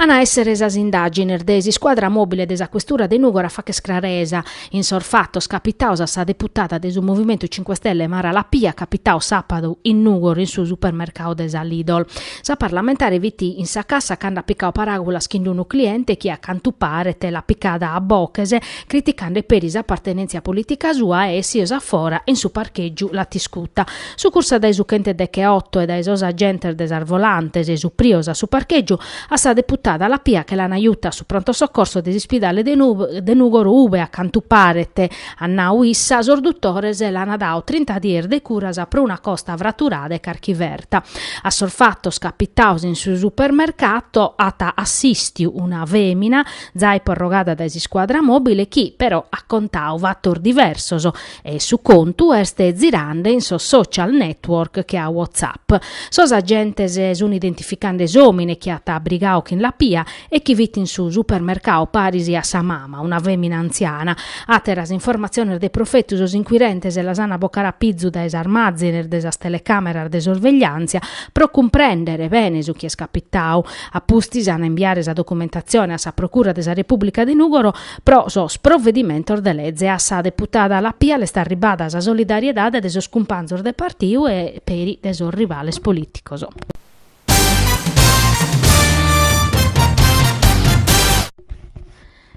An a èssere sas indàgines de s'iscuadra mòbile de sa questura de Nùgoro a fàcher craresa in sos fatos capitados a sa deputada de su Movimentu Cinque Stelle Mara Lapia capitaos sàpadu in Nùgoro in su supermercadu de sa Lidl. Sa parlamentare fit in sa cassa cando at picadu paràgulas chin unu cliente chi a cantu paret l'at picada a boches criticande peri s'apartenèntzia polìtica sua e essios a fora in su parchègiu l'at iscuta Sucursa dae su chentu deche otto e dae sos agentes de sas volantes essuprios a su parchègiu a sa deputada Lapia che l'an juta a su pronto soccorso de s'ispidale de Nùgoro ube a cantu paret, at nau issa, sos dutores l'an dadu trinta dies de curas pro una costa fraturada e carchi ferta. A sos fatos capitados in su supermercato at assistiu una fèmina, zai porrogada dae s'iscuadra mòbile chi, però, at contadu fatos diversos, E su contu est zirande in sos social network che a WhatsApp. Sos agentes sun identificande s'òmine chi at brigadu chin Lapia e chi fit in su supermercadu paris a sa mama, una fèmina antziana. Àteras informatziones de profetu sos inquirentes las an a bocare a pizu dae sas màzines de sas telecàmeras de sorvegliàntzia pro cumprèndere bene su chi est capitadu. A pustis an a imbiare sa documentatzione a sa Procura de sa Repùblica de Nùgoro Pro sos provedimentos de leze a sa deputada Lapia l'est arribada sa solidariedade de sos cumpanzos de partiu e peri de sos rivales polìticos.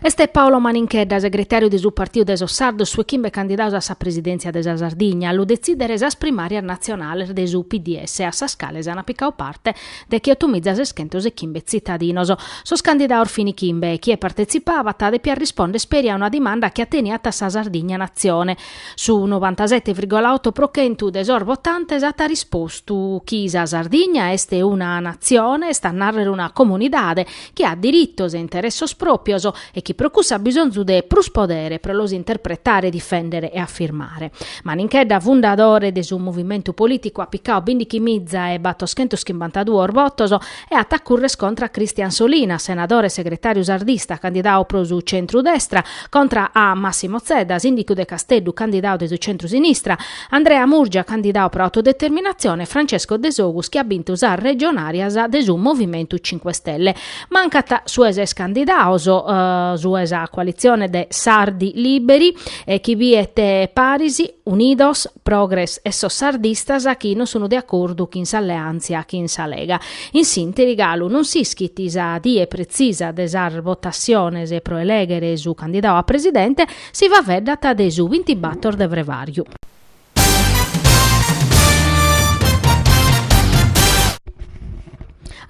Est Paolo Maninchedda, segretàriu de su Partiu de sos Sardos su 'e chimbe candidados a sa presidèntzia de sa Sardigna a lu detzìdere sas primàrias natzionales de su PDS a sas cales ant picadu parte decheotomiza seschentos e chimbe tzitadinos. Sos candidados fin chimbe e chie partetzipabat depiat rispònder peri a una dimanda chi ateniat a sa Sardigna Natzione. Su novantasete virgola oto pro chentu de sos votantes at rispostu chi sa Sardigna est una Natzione, est a nàrrere una comunidade, chi at diritos e interessos pròpios e chi pro cuss'at bisonzu de prus podere pro los interpretare, difèndere e afirmare. Maninchedda, fundadore de su movimentu polìticu at picadu bìndichi miza e battoschentos chimbantaduos votos e at a currer contra a Cristian Solinas, senadore e segretàriu sardista candidadu pro su centru-destra, contra a Massimo Zedda, sìndicu de Casteddu candidadu de su centru-sinistra, Andrea Murgia candidau pro autodeterminatzione e Francesco Desogus chi at bintu sas regionàrias de su Movimentu Cinque Stelle. Mancat su 'e ses candidados, su 'e sa coalitzione de Sardi Lìberi, chi biet paris Unidos, Progres e sos sardistas chi non sun de acordu chin s'alleàntzia chin sa Lega. In s'ìnteri galu non s'ischit sa die pretzisa de sas votassiones pro elèghere su candidadu a presidente, Si faveddat de su bintibator de Frevàriu.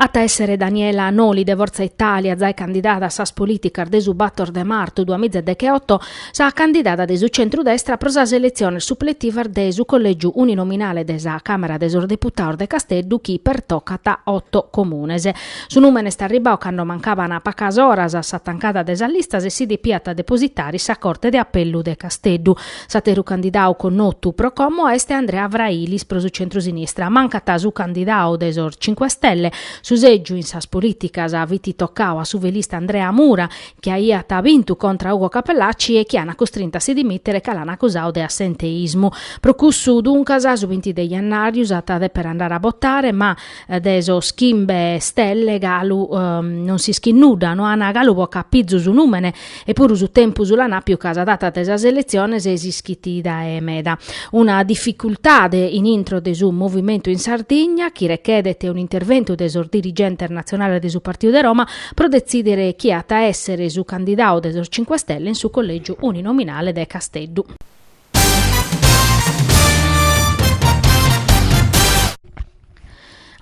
At a èssere Daniela Noli de Fortza Itàlia, zai candidada a sas polìticas de su bator de martu duamiza degheoto, sa candidada de su centru-destra pro sas eletziones supletivas de su collègiu uninominale de sa Càmara de sos Deputados de Casteddu chi pertocat oto comunes. Su nùmene est arribau cando mancaban pacas oras a sa tancada de sas listas e si depiat depositare sa Corte de Apellu de Casteddu. S'àteru candidau connotu pro como est Andrea Frailis pro su centrusinistra. Mancat su candidau de sos Cinque Stelle. Su sègiu in sas polìticas fit tocau a su velista Andrea Mura, chi aiat bintu contra a Ugo Cappellacci e chi an costrintu a si dimìtere ca l'an acusau de assenteismu. Pro cussu, duncas, su binti de jennàriu s'at a dèpere andare a botare, ma, de sos chimbe stelle galu non s'ischit nudda, no ana galu bocau a pizu su numene epuru su tempus l'an àpiu ca sa data de sas eletziones s'ischit dae meda. Una dificultade in intro de su movimentu in Sardigna chi rechedet un'interventu de sos dirigentes natzionales de su Partiu de Roma pro detzidere chie at a essere su candidau de sos Cinque Stelle in su collègiu uninominale de Casteddu.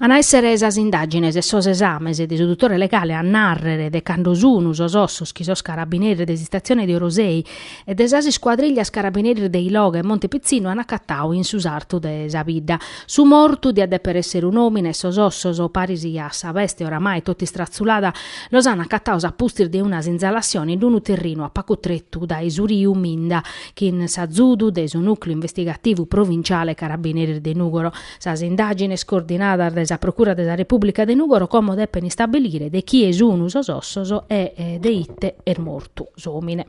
An a èssere sas indàgines e sos esames de su dutore legale a nàrrere de cando sunu sos ossos chi sos carabineris de s'istatzione de Orosei e de sas iscuadrìllias carabineris de Iloghe e Monte Pitzinnu ant acatadu in su sartu de sa bidda. Su mortu diat dèpere èssere un'òmine e sos ossos, paris a sa beste oramai totu istratzulada, los ant acatados a pustis de una sinzalassione in unu terrinu a pagu tretu dae su riu Minda, chin s'azudu de su Nucleu Investigativu Provinciale Carabineris de Nugoro, sas indagines coordinadas de sa Procura de sa Republica de Nugoro como depen istabilire de chie sunu sos ossos e de ite est mortu s'omine.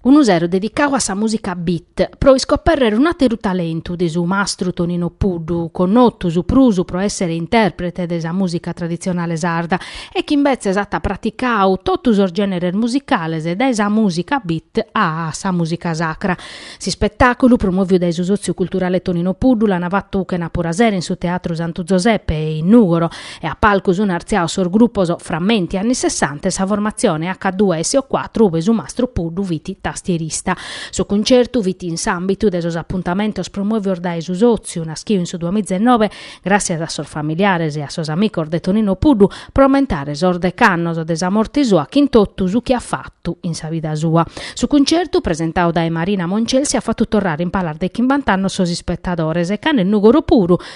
unu sero dedicau a sa mùsica beat, pro iscoperrere un'àteru talentu de su mastru Tonino Puddu, connotu su prus pro èssere intèrprete de sa mùsica traditzionale sarda e chi imbetzes at praticau totu sos gèneres musicales dae sa mùsica beat a sa mùsica sacra. S'ispetàculu, promòviu dae su Sòtziu Culturale Tonino Puddu, l'ant fatu chenàpura a sero in su Teatru Santu Zoseppe in Nùgoro, e a palcu sun artziados sos grupos Frammenti anni Sessanta e sa formatzione H due S O cuatro ube su mastru Puddu fit tastierista. Su cuncertu fit in s'àmbitu de sos apuntamentos promòvios dae su sòtziu, naschiu in su duamiza e nobe, gràssias a sos familiares e a sos amicos de Tonino Puddu, pro ammentare sos dech'annos de sa morte sua chin totu su chi at fatu in sa vida sua. Su cuncertu, presentau dae Marina Moncelsi, at fatu torrare in palas de chimbant'annos sos ispetadores e cando in Nùgoro puru,